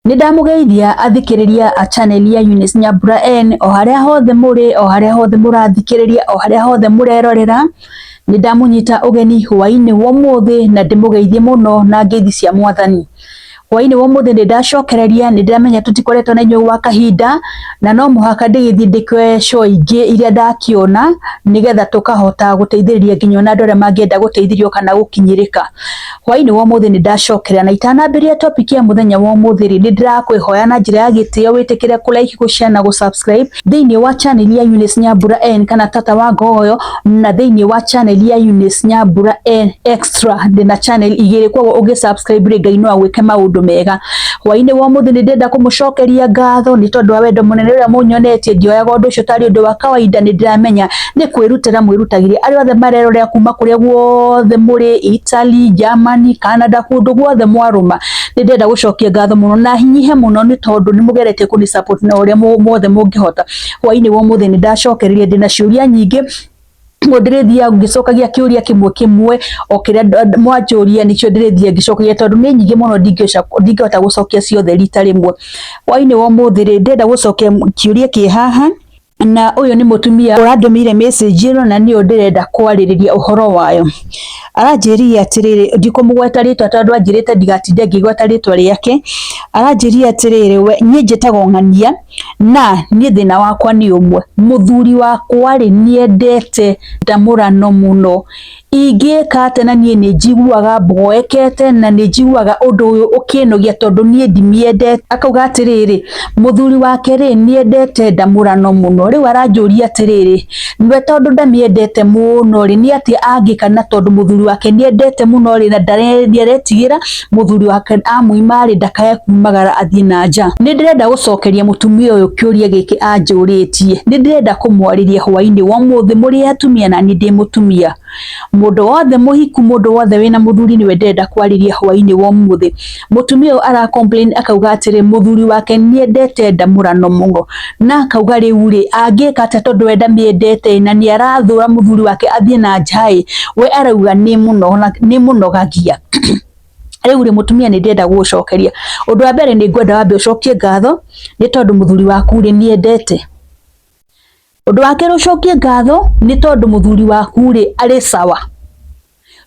Nĩ ndamũgeithia athikĩrĩria a channel ya Eunice Nyambura N o harĩa hothe mũrĩ, o harĩa hothe mũrathikĩrĩria, o harĩa hothe mũrerorera. Nĩ ndamũnyita ũgeni hwaĩ-inĩ wa ũmũthĩ na ndĩmũgeithie mũno na ngeithi cia Mwathani. Hwaĩ-inĩ wa ũmũthĩ nĩ ndacokereria, nĩ ndĩramenya tũtikoretwo na inyuĩ gwa kahinda, na no mũhaka ndĩgĩthiĩ ndĩkĩoe show ingĩ iria ndakĩona, nĩgetha tũkahota gũteithĩrĩria nginya ona andũ arĩa mangĩenda gũteithĩrio kana gũkinyĩrĩka. Hwaĩ-inĩ wa ũmũthĩ nĩ ndacokera na itanambĩrĩria topic ya mũthenya wa ũmũthĩ rĩ, nĩ ndĩrakwĩhoya na njĩra ya gĩtĩo wĩtĩkĩre kũ like, gũ share na gũ subscribe thĩinĩ wa channel ya Eunice Nyambura N kana Tata wa Ngogoyo na thĩinĩ wa channel ya Eunice Nyambura N extra. Ndĩ na channel igĩrĩ kwoguo ũngĩ subscribe rĩ Ngai no agwĩke maũndũ mega. Hwaĩ-inĩ wa ũmũthĩ nĩ ndĩrenda kũmũcokeria ngatho nĩ tondũ wa wendo mũnene ũrĩa mũnyonetie. Ndioyaga ũndũ ũcio tarĩ ũndũ wa kawaida, nĩ ndĩramenya nĩ kwĩrutĩra mwĩrutagĩrie arĩa othe marerorera kuma kũrĩa guothe mũrĩ Italy, Germany, Canada kũndũ guothe mwarũma nĩ ndĩrenda gũcokia ngatho mũno na hinyihe mũno nĩ tondũ nĩ mũgeretie kũni support na ũrĩa muothe mũngĩhota hwainĩ wa ũmũthĩ nĩ ndacokereria ndĩna ciũria nyingĩ ũguo ndĩrĩthiaga ngĩcokagia kĩũria kĩmwe kĩmwe o kĩrĩa mwanjũria nĩkĩo ndĩrĩthiaga ngĩcokagia tondũ nĩ nyingĩ mũno ndingĩhota gũcokia ciothe rita rĩmwe hwainĩ wa ũmũthĩ rĩ ndĩrenda gũcokia kĩũria kĩ haha na ũyũ nĩ mũtumia ũrandũmĩire message ĩno na nĩyo ndĩrenda kwarĩrĩria ũhoro wayo. Aranjĩrire atĩrĩrĩ, ndikũmũgweta rĩtwa tondũ anjĩrĩte ndigatinde ngĩgweta rĩtwa rĩake. Aranjĩrire atĩrĩrĩ, we niĩ njĩtagwo Ng'ania na niĩ thĩna wakwa nĩ ũmwe, mũthuri wakwa rĩ nĩendete ndamũrano mũno. Ingĩka atĩa na niĩ nĩ njiguaga mboekete na nĩ njiguaga ũndũ ũyũ ũkĩnogia tondũ niĩ ndimiendete. Akauga atĩrĩrĩ, mũthuri wake rĩ, nĩ endete ndamũrano mũno. Rĩu aranjũria atĩrĩrĩ, we tondũ ndamĩendete mũno rĩ, nĩ atĩa angĩka na tondũ mũthuri wake nĩ endete mũno rĩ, na ndaretigĩra. mũthuri wake amũima-rĩ ndakae kumagara athiĩ na nja nĩ ndĩrenda gũcokeria mũtumia ũyũ kĩũria gĩkĩ anjũrĩtie nĩ ndĩrenda kũmwarĩria hwainĩ wa ũmũthĩ mũrĩ atumia na niĩ ndĩ mũtumia mũndũ wothe mũhiku mũndũ wothe wĩna mũthuri nĩwe ndĩrenda kwarĩria hwainĩ wa ũmũthĩ mũtumia ũyũ ara complain akauga atĩrĩ mũthuri wake nĩendete ndamũrano mũno Na akauga rĩu-rĩ, angĩka atĩa tondũ we ndamĩendete na nĩ arathũra mũthuri wake athiĩ na nja-ĩ, we arauga nĩ mũnogagia. Rĩu-rĩ mũtumia nĩ ndĩrenda gũgũcokeria, ũndũ wa mbere nĩ ngwenda wambe ũcokie ngatho nĩ tondũ mũthuri waku-rĩ nĩ endete. Ũndũ wa kerĩ ũcokie ngatho nĩ tondũ mũthuri waku-rĩ arĩ sawa.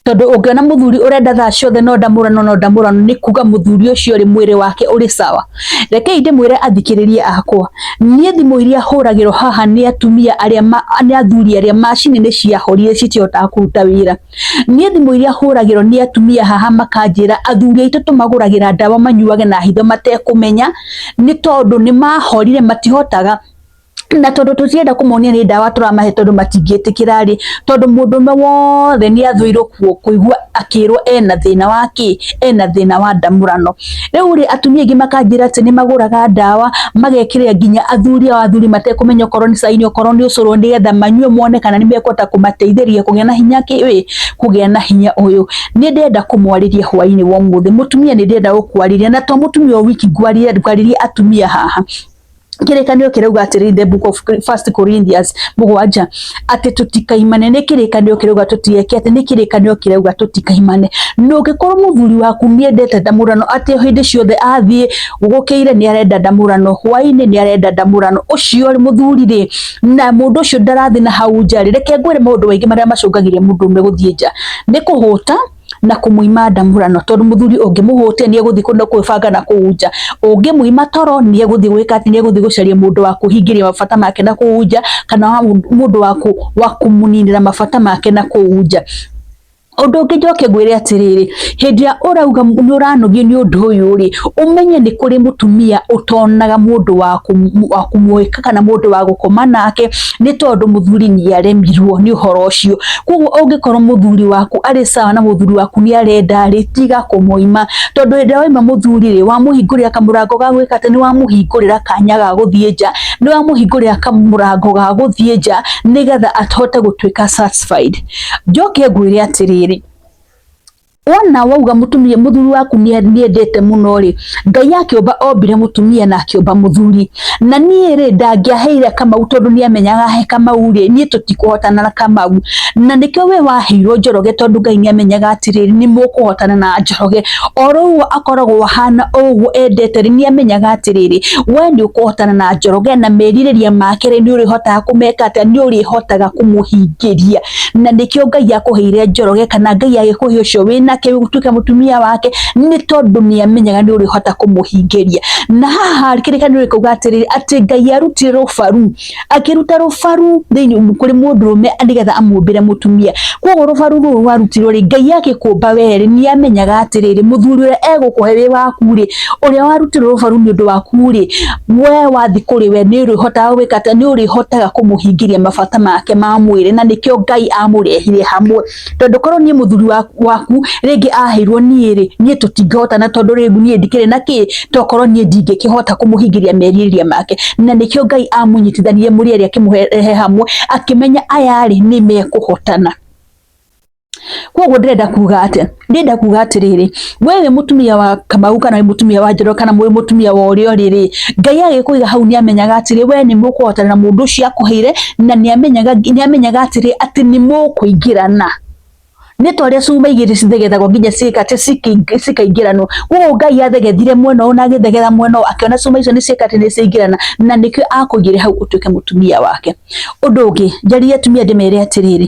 tondu ungiona muthuri urenda thaa ciothe no ndamurano no ndamurano ni kuga muthuri ucio ri mwiri wake uri sawa rekei ndimwire athikiririe akwa nie thimu iria huragirwo haha ni atumia aria ni athuri aria macini ni ciahorire citihotaga kuruta wira nie thimu iria huragirwo ni atumia haha makanjira athuri aitu tumaguragira ndawa manyuage na hitho matekumenya ni tondu ni mahorire matihotaga na tondu tutienda kumonia ni ndawa turamahe tondu matingietikira ri tondu mundu me wothe ni athwirwo kuo kuigua akirwo ena thina wa ki ena thina wa ndamurano riu ri atumia ingi makanjira ati ni maguraga ndawa magekirira nginya athuri ao athuri matekumenya okorwo ni caini okorwo ni ucuru ni getha manyue mone kana ni mekota kumateithiria kugia na hinya ki wi kugia na hinya uyu ni ndenda kumwariria hwaini wa muthi mutumia ni ndenda gukwariria na to mutumia o wiki ngwariria atumia haha kĩrĩkanĩro kĩrauga atĩrĩ the book of first Corinthians mũgwanja atĩ tũtikaimane nĩ kĩrĩkanĩro kĩrauga tũtieke atĩ nĩ kĩrĩkanĩro kĩrauga tũtikaimane na ũngĩkorwo mũthuri waku nĩendete ndamũrano atĩ hĩndĩ ciothe athiĩ gũkĩire nĩ arenda ndamũrano hwainĩ nĩ arenda ndamũrano ũcio rĩ mũthuri rĩ na mũndũ ũcio ndarathiĩ na hau nja rĩ reke ngwĩre maũndũ maingĩ marĩa macũngagĩrĩria mũndũ ũmwe gũthiĩ nja nĩ kũhũta na kũmũima ndamũrano tondũ mũthuri ũngĩmũhũtia nĩ egũthiĩ kũndũ kwĩbanga na kũu nja ũngĩmũima toro nĩ egũthiĩ gwĩka atĩ nĩ egũthiĩ gũcaria mũndũ wa kũhingĩria mabata make na kũu nja kana mũndũ wa kũmũninĩra mabata make na kũu nja Ũndũ ũngĩ njoke ngwĩre atĩrĩrĩ, hĩndĩ ĩrĩa ũrauga nĩ ũranogio nĩ ũndũ ũyũ rĩ, ũmenye nĩ kũrĩ mũtumia ũtonaga mũndũ wa kũmũhĩka kana mũndũ wa gũkoma nake, nĩ tondũ mũthuri nĩ aremirwo nĩ ũhoro ũcio. Koguo ũngĩkorwo mũthuri waku arĩ sawa na mũthuri waku nĩ arenda rĩ, tiga kũmũima. Tondũ hĩndĩ ĩrĩa waima mũthuri rĩ, wamũhingũrĩra kamũrango ga gwĩka atĩ, nĩ wamũhingũrĩra kanya ga gũthiĩ nja, nĩ wamũhingũrĩra kamũrango ga gũthiĩ nja nĩgetha ahote gũtuĩka satisfied. Njoke ngwĩre atĩrĩrĩ, wona wauga mutumia muthuri waku ni niendete muno ri ngai akiumba ombire mutumia na akiumba muthuri na nie ri ndangiaheire kamau tondu ni amenyaga he kamau ri nie tutikuhotana na kamau na nikio we waheirwo njoroge tondu ngai ni amenyaga atiriri ni mukuhotana na njoroge oroguo akoragwo ahana oguo endete ri ni amenyaga atiriri we ni ukuhotana na njoroge na meririria make ri ni urihotaga kumeka atia ni urihotaga kumuhingiria na nĩkĩo Ngai akũheire Njoroge kana Ngai agĩkũhe ũcio wĩnake ũtuĩke mũtumia wake nĩ tondũ nĩ amenyaga nĩ ũrĩhota kũmũhingĩria na haha kĩrĩkanĩro gĩkauga atĩrĩrĩ atĩ Ngai arutire rũbaru akĩruta rũbaru thĩinĩ kũrĩ mũndũrũme nĩgetha amũmbĩre mũtumia koguo rũbaru rũrũ rwarutirwo rĩ Ngai agĩkũmba wee rĩ nĩ amenyaga atĩrĩrĩ mũthuri ũrĩa egũkũhe wĩ waku rĩ ũrĩa warutirwo rũbaru nĩ ũndũ waku rĩ we wathi kuri we ni urihotaga gwika atia ni urihotaga kumuhingiria mabata make ma mwiri na nikio ngai amurehire hamwe tondu korwo nie muthuri waku ringi ahirwo nie ri nie tutingihota na tondu ringu nie ndikire na ki tokorwo nie ndingikihota kumuhingiria meririria make na nikio ngai amunyitithanirie muri ari akimuhe hamwe akimenya aya ri ni mekuhotana koguo ndĩrenda kuga atĩ ndĩrenda kuga atĩrĩrĩ we wĩ mũtumia wa kamau kana wĩ mũtumia wa njoro kana wĩ mũtumia wa ũrĩa ũrĩ rĩ ngai agĩkũiga hau nĩ amenyaga atĩrĩ we nĩ mũkũhotana na mũndũ ũcio akũheire na nĩ amenyaga nĩ amenyaga atĩrĩ atĩ nĩ mũkũingĩrana nĩ ta ũrĩa cuma igĩrĩ cithegetagwo nginya ciĩkate cikaingĩranwo koguo ngai athegethire mwena ũyũ na agĩthegera mwena ũyũ akĩona cuma icio nĩ ciĩkate nĩ ciaingĩrana na nĩkĩo akũigĩre hau ũtuĩke mũtumia wake ũndũ ũngĩ njarĩria atumia ndĩmere atĩrĩrĩ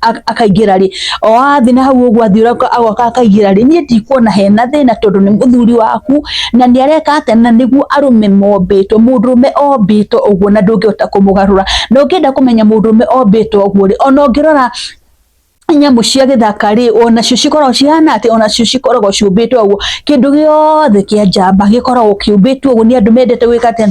akaingĩra rĩ o athi na hau ũguo athiĩ ũraka agoka akaingĩra rĩ niĩ ndikuona hena thĩna tondũ nĩ mũthuri waku na nĩ areka atĩa na nĩguo arũme mombĩtwo mũndũrũme ombĩtwo ũguo na ndũngĩhota kũmũgarũra na ũngĩenda kũmenya mũndũrũme ombĩtwo ũguo rĩ ona ũngĩrora nyamũ cia gĩthaka rĩ onacio cikoragwo cihana atĩ onacio cikoragwo ciũmbĩtwo ũguo kĩndũ gĩothe kĩa njamba gĩkoragwo kĩũmbĩtwo ũguo nĩ andũ mendete gwĩka atĩa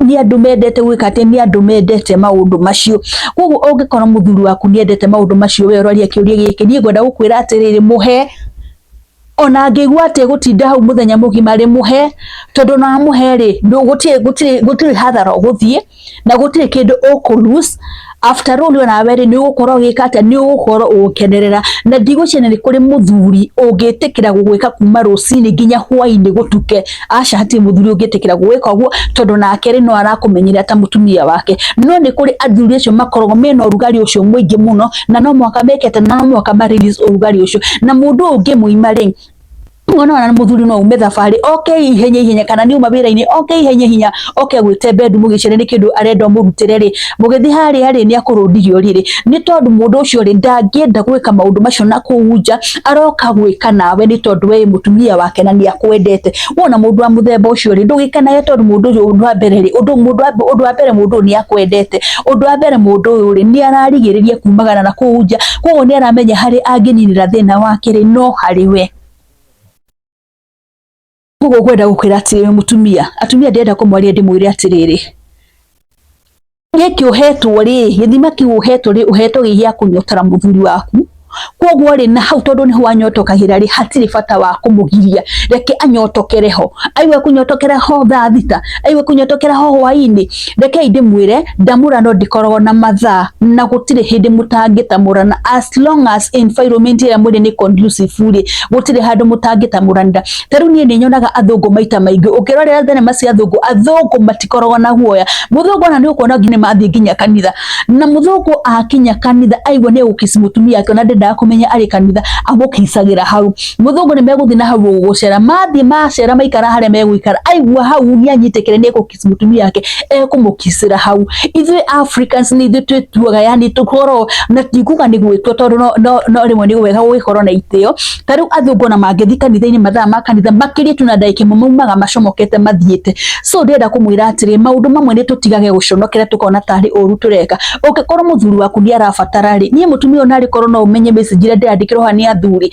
nĩ andũ mendete gwĩka atĩ nĩ andũ mendete maũndũ macio koguo ũngĩkora mũthuri waku nĩ endete maũndũ macio we ũroria kĩũria gĩkĩ niĩ ngwenda gũkwĩra atĩrĩrĩ mũhe ona ngĩigua atĩ gũtinda hau mũthenya mũgima rĩ mũhe tondũ na mũhe rĩ gũtirĩ hathara ũgũthiĩ na gũtirĩ kĩndũ ũkũ lose after all ona we ri ni ugukorwo gika atia ni ugukorwo ugukenerera na ndigwicina ni kuri muthuri ungitikira gugwika kuma rucini nginya hwaini gutuke aca hati muthuri ungitikira gugwika uguo tondu nake ri no arakumenyera ta mutumia wake no ni kuri athuri acio makoragwo mena urugari ucio mwingi muno na no mwaka mekete na no mwaka ma release urugari ucio na mundu ungi muima ri mwana wana muthuri no ume thabarĩ oke ihenya ihenya kana nĩ uma wĩra-inĩ oke ihenya ihenya oke gwĩte bendu mũgĩcere nĩ kĩndũ arenda mũrutĩre rĩ mũgĩthiĩ harĩa rĩ nĩ akũrũndigio rĩrĩ nĩ tondũ mũndũ ũcio rĩ ndangĩenda gwĩka maũndũ macio na kũu nja aroka gwĩka nawe nĩ tondũ we mũtumia wake na nĩ akwendete wona mũndũ wa mũthemba ũcio rĩ ndũgĩkanaye tondũ mũndũ ũyũ ũndũ wa mbere rĩ ũndũ mũndũ wa ũndũ wa mbere mũndũ ũyũ nĩ akwendete ũndũ wa mbere mũndũ ũyũ rĩ nĩ ararigĩrĩria kumagara na kũu nja koguo nĩ aramenya harĩ angĩninĩra thĩna wake rĩ no harĩ we koguo ngwenda gũkwĩra atĩrĩrĩ mũtumia atumia ndĩrenda kũmwarĩria ndĩmwĩre atĩrĩrĩ gĩkĩ ũhetwo rĩ gĩthima kĩu ũhetwo rĩ ũhetwo gĩ gĩa kũnyotara mũthuri waku koguo rĩ na hau tondũ nĩho wanyotokagĩra rĩ hatirĩ bata wa kũmũgiria reke anyotokere ho aigue kũnyotokera ho thaa thita aigue kũnyotokera ho hwainĩ rekei ndĩmwĩre ndamũra no ndikoragwo na mathaa na gũtirĩ hĩndĩ mũtangĩtamũrana as long as environment ĩrĩa mwĩrĩ nĩ conducive rĩ gũtirĩ handũ mũtangĩtamũranĩra ta rĩu niĩ nĩ nyonaga athũngũ maita maingĩ ũngĩrorera thenema cia athũngũ athũngũ matikoragwo na guoya mũthũngũ ona nĩ ũkuona nginya mathiĩ nginya kanitha na mũthũngũ akinya kanitha aigua nĩ egũkici mũtumia ake ona ndendaga kũmenya arĩ kanitha amũkicagĩra hau mũthũngũ nĩ megũthiĩ na hau gũgũcera mathiĩ macera maikara harĩa megũikara aigua hau nĩ anyitĩkĩre nĩ egũkica Africans mutumia wake ekũmũkicĩra hau ithuĩ Africans nĩ ithuĩ twĩtuaga yani tũkorwo na tikuga nĩ gwĩtua tondũ no, no, no rĩmwe nĩ wega gũgĩkorwo na itĩo ta rĩu athungu ona mangĩthiĩ kanitha-inĩ mathaa ma kanitha makĩria tu na ndagĩka ĩmwe maumaga macomokete mathiĩte so ndĩrenda kũmwĩra atĩrĩ maũndũ mamwe nĩ tũtigage gũconokera tũkona tarĩ ũru tũreka ũngĩkorwo mũthuri waku nĩ arabatara rĩ niĩ mũtumia ũyũ narĩ korwo no ũmenye message ĩrĩa ndĩrandĩkĩrwo haha nĩ athuri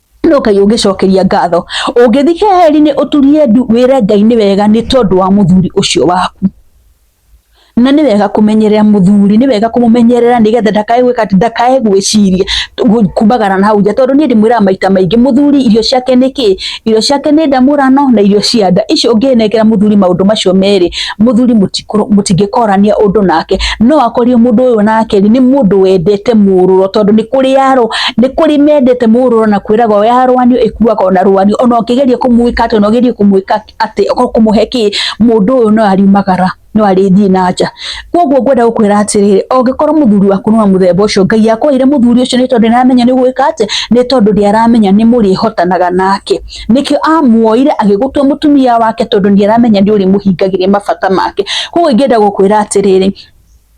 no ngai ũngĩcokeria ngatho ũngĩthi heri-inĩ ũturie ndu wĩre ngai nĩ wega nĩ tondũ wa mũthuri ũcio waku na nĩ wega kũmenyerera mũthuri nĩ wega kũmũmenyerera nĩgetha ndakae gwĩka atĩ ndakae gwĩciria gu- kumagara na hau nja tondũ niĩ ndĩmwĩraga maita maingĩ mũthuri irio ciake nĩ kĩ irio ciake nĩ ndamũrano na irio cia nda icio ũngĩnengera mũthuri maũndũ macio merĩ muthuri mutikuru mutingĩkorania undu nake no akorio mundu uyu nake ni mundu wendete mururo tondu ni kuri yaro ni kuri mendete mururo na kwiraga o yarwanio ikuaga ona rwanio ona ukigeria kumuika ati ona ugeria kumuika ati kumuhe ki mundu uyu no ariumagara no arĩthiĩ na nja koguo ngwenda gũkwĩra atĩrĩrĩ ũngĩkorwo mũthuri waku nĩ wa mũthemba ũcio ngai akwaire mũthuri ũcio nĩ tondũ nĩaramenya nĩ gwĩka atĩ nĩ tondũ nĩaramenya nĩ mũrĩhotanaga nake nĩkĩo amuoire agĩgũtua mũtumia wake tondũ nĩ aramenya nĩ ũrĩmũhingagĩria mabata make koguo ingĩenda gũkwĩra atĩrĩrĩ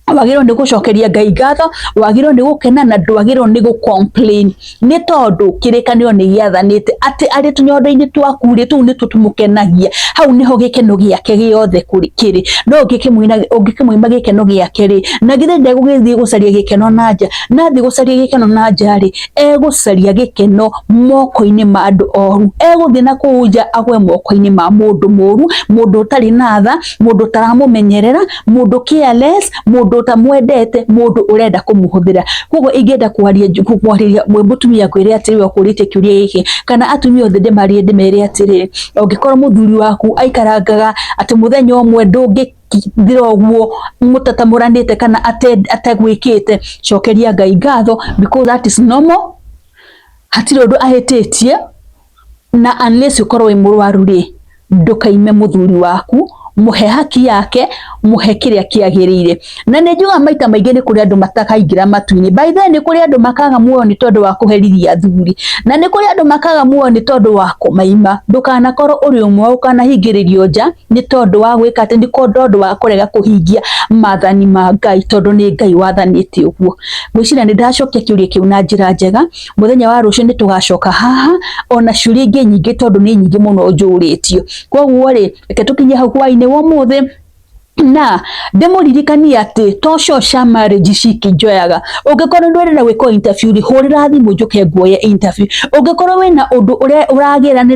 wagĩrĩirwo nĩ gũcokeria Ngai ngatho, wagĩrĩirwo nĩ gũkena na ndwagĩrĩirwo nĩ gũ complain nĩ tondũ kĩrĩkanĩro nĩ gĩathanĩte atĩ arĩ tũnyondo-inĩ twaku rĩ tũu nĩtuo tũmũkenagia, hau nĩho gĩkeno gĩake gĩothe kĩrĩ, no ũngĩkĩmwĩma gĩkeno gĩake rĩ, na githĩ ndegũgĩthiĩ gũcaria gĩkeno na nja, na athiĩ gũcaria gĩkeno na nja rĩ, egũcaria gĩkeno moko-inĩ ma andũ oru, egũthiĩ na kũu nja agwe moko-inĩ ma mũndũ mũru, mũndũ ũtarĩ na tha, mũndũ ũtaramũmenyerera, mũndũ careless, mũndũ ũtamwendete, mũndũ ũrenda kũmũhũthĩra. Koguo ingĩenda kwaria kwarĩria mũtumia ngwĩre atĩrĩ ũkũrĩtie kĩũria gĩkĩ, kana atumia othe ndĩmarĩrie ndĩmere atĩrĩ, ũngĩkorwo mũthuri waku aikarangaga atĩ mũthenya ũmwe ndũngĩ. ndira ũguo mũtatamũranĩte kana ate- ategwĩkĩte cokeria ngai ngatho because that is normal hatirĩ ũndũ ahĩtĩtie na unless ũkorwo wĩ mũrwaru rĩ ndũkaime mũthuri waku mũhe haki yake mũhe kĩrĩa kĩagĩrĩire na nĩ njugaga maita maingĩ nĩ kũrĩ andũ matakaingĩra matu-inĩ by the way, nĩ kũrĩ andũ makaga muoyo nĩ tondũ wa kũherithia athuri na nĩ kũrĩ andũ makaga muoyo nĩ tondũ wa kũmaima ndũkanakorwo ũrĩ ũmwe ũkanahingĩrĩrio nja nĩ tondũ wa gwĩka atĩ nĩ tondũ wa kũrega kũhingia mathani ma Ngai tondũ nĩ Ngai wathanĩte ũguo. Ngwĩciria nĩ ndacokia kĩũria kĩu na njĩra njega, mũthenya wa rũciũ nĩ tũgacoka haha ona ciũria ingĩ nyingĩ tondũ nĩ nyingĩ mũno njũrĩtio. Koguo rĩ, reke tũkinye hau hwainĩ wa ũmũthĩ na ndĩmũririkanie atĩ tocio cia marriage cikĩnjoyaga ũngĩkorwo ndwĩrenda gwĩkwo interview rĩ hũrĩra thimũ njũke nguoye interview ũngĩkorwo wĩna ũndũ ũrĩa ũragĩra nĩ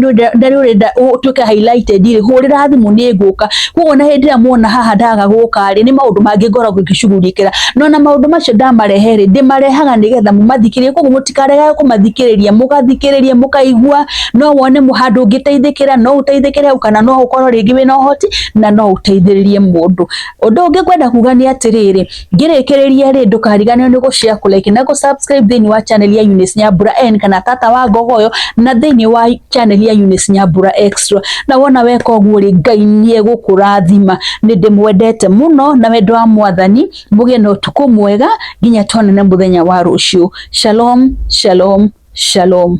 ũrenda ũtuĩke highlighted rĩ hũrĩra thimũ nĩ ngũka koguo na hĩndĩ ĩrĩa muona haha ndaga gũka rĩ nĩ maũndũ mangĩ ngoragwo ngĩcugurikĩra no na maũndũ macio ndamarehe rĩ ndĩmarehaga nĩgetha mũmathikĩrĩrie koguo mũtikarega kũmathikĩrĩria mũgathikĩrĩria mũkaigua no wone handũ ũngĩteithĩkĩra no ũteithĩkĩre hau kana no ũkorwo rĩngĩ wĩna ũhoti na no uteithiririe mundu undu ungi kwenda kuga ni atiriri ngirikiriria ri ndukariganirwo ni gushare ku like na ku subscribe thini wa channel ya Eunice Nyambura N kana tata wa ngogoyo na thini wa channel ya Eunice Nyambura Extra na wona weka uguo ri Ngai ni egukurathima ni ndimwendete muno na wendo wa mwathani mugie na utuku mwega nginya tonane muthenya wa rucio shalom shalom shalom